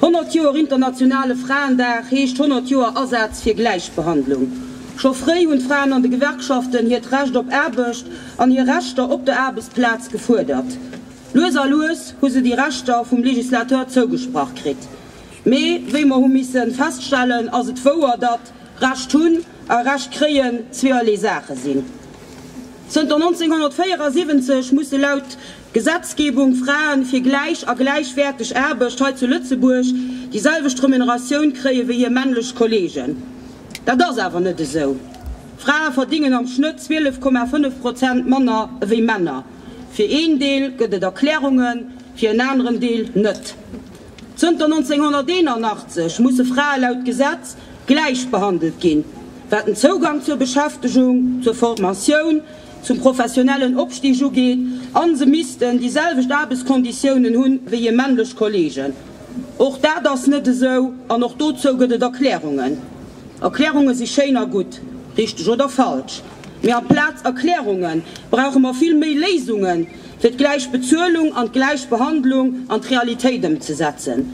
100 Joer internationale Fraendag heescht 100 Joer Asaz fir Gläichbehandlung. Scho fréi hunn d'Fraen an de Gewerkschaften hiert Recht op Aarbecht an hir Rechter op der Aarbechtsplaz gefuerdert. Lues a lues hu se déi Rechter vum Legislateur zougesprach kritt. Mee wéi mer hu misse feststellen, ass et wouer, datt Recht hunn a Recht kréien zweeërlee Saache sinn. Zënter 1974 musse laut Gesetzgebung, Fraen, fir gläich a gläichwäerteg Aarbecht hei zu Lëtzebuerg déi selwecht Remuneratioun kréie wéi hir männlech Kollegen. Dat ass awer net esou. Frae verdingen am Schnëtt 12,5 Prozent manner ewéi Männer. Fir een Deel gëtt et Erklärungen, fir en aneren Deel net. Zënter 1981 musse Frae laut Gesetz gläich behandelt ginn, wat den Zougang zur Beschäftegung, zur Formatioun, zum professionellen Opstig ugeet, a se missten déi selwecht Aarbechtskonditiounen hu wéi hir männlech Kolleegen. Och dat ass net esou an och dozou gëtt et Erklärungen. Erklärunge si schéin a gutt, richteg oder falsch, mee amplaz Erklärunge brauche mer vill méi Léisunge fir d'gläich Bezuelung an d'gläich Behandlung an d'Realitéit ëmzesetzen.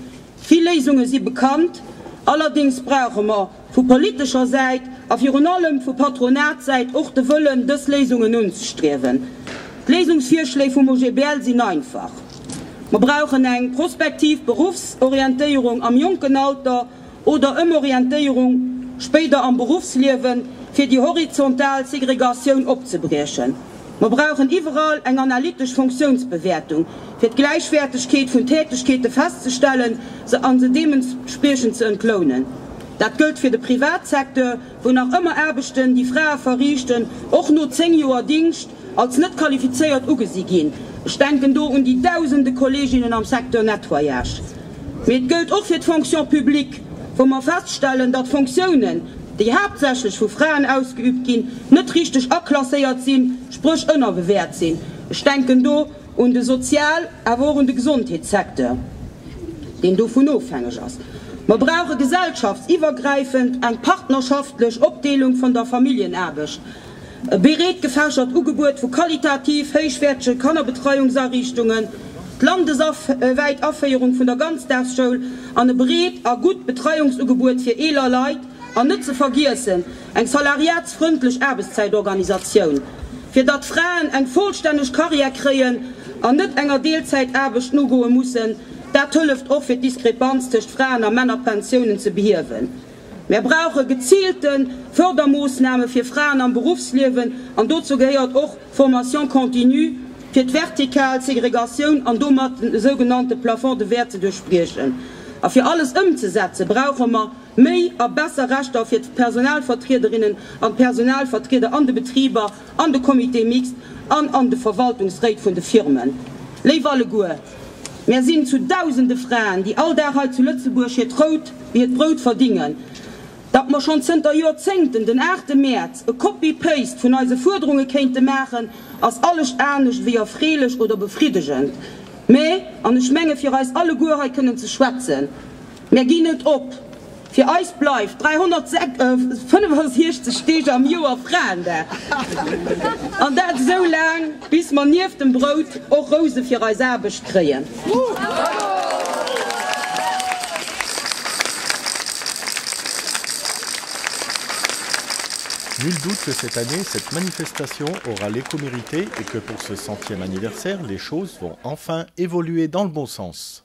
Vill Léisunge si bekannt, allerdéngs brauche mer, vu politescher Säit a virun allem vu Patronatssäit och de Wëllen, dës Léisungen unzestriewen. D'Léisungsvirschléi vum OGBL sinn einfach, Mer brauchen eng prospektiv Beruffsorientéierung am jonken Alter oder Ëmorientéierung spéider am Beruffsliewen, fir déi horizontal Segregatioun opzebriechen. Mer brauchen iwwerall eng analytesch Fonctiounsbewäertung, fir d'Gläichwäertegkeet vun Tätegkeete festzestellen, se a se deementspriechend ze entlounen. Dat gëllt fir de Privatsecteur, wou nach ëmmer Aarbechten, déi Frae verriichten, och no zéng Joer Dingscht, als net qualifizéiert ugesi ginn. Ech denken do un déi Dausende Kolleginnen am Secteur Nettoyage. Mee et gëllt och fir d'Fonction publique, wou mer feststellen, datt Fonctiounen, déi haaptsächlech vu Fraen ausgeübt ginn, net richteg aklasséiert sinn, spréch ënnerbewäert sinn. Ech denken do un de Sozial-, awer och un de Gesondheetssecteur, deen dovun ofhängeg ass. Mer brauche gesellschaftsiwwergräifend eng partnerschaftlech Opdeelung vun der Familljenaarbecht. E breet gefächert Ugebuet vu qualitativ héichwäertege Kannerbetreiungsariichtungen, d'landeswäit Aféierung vun der Ganzdaagsschoul an e breet a gutt Betreiungsugebuet fir eeler Leit an net ze vergiessen eng salariatsfrëndlech Aarbechtszäitorganisatioun, fir datt Fraen eng vollstänneg Carrière kréien an net enger Deelzäitaarbecht nogoe mussen. Dat hëlleft och fir d'Diskrepanz tëscht Fraen a Männerpensiounen ze behiewen. Mär brauche gezielte Fördermoossname fir Fraen am Beruffsliewen, an dozou gehéiert och d'Formation continue, fir d'vertikal Segregatioun an domat den esou genannte Plafond de verre ze duerchbriechen. A fir alles ëmzesetzen, brauche mer méi a besser Rechter fir d'Personalvertriederinnen an d'Personalvertrieder an de Betriber, an de Comité mixte an an de Verwaltungsréit vun de Firmen. Léif alleguer, mär sinn zu Dausende Fraen, déi all Dag hei zu Lëtzebuerg hiert Rout wéi hiert Brout verdingen. Datt mer schonn zënter Jorzéngten den 8 Mäerz e Copy-Paste vun eise Fuerderunge kéinte maachen, ass alles anescht wéi erfreelech oder befriddegend. Mä, an ech menge fir eis alleguer hei kënnen ze schwätzen, Mär ginn net op! Fir eis bleift 365 Deeg am Joer Fraendag. An dat esou laang, bis mer nieft dem Brout och Rouse fir eis Aarbecht kréien. Nul doute que cette année, cette manifestation aura l'écho mérité et que pour ce centième anniversaire, les choses vont enfin évoluer dans le bon sens.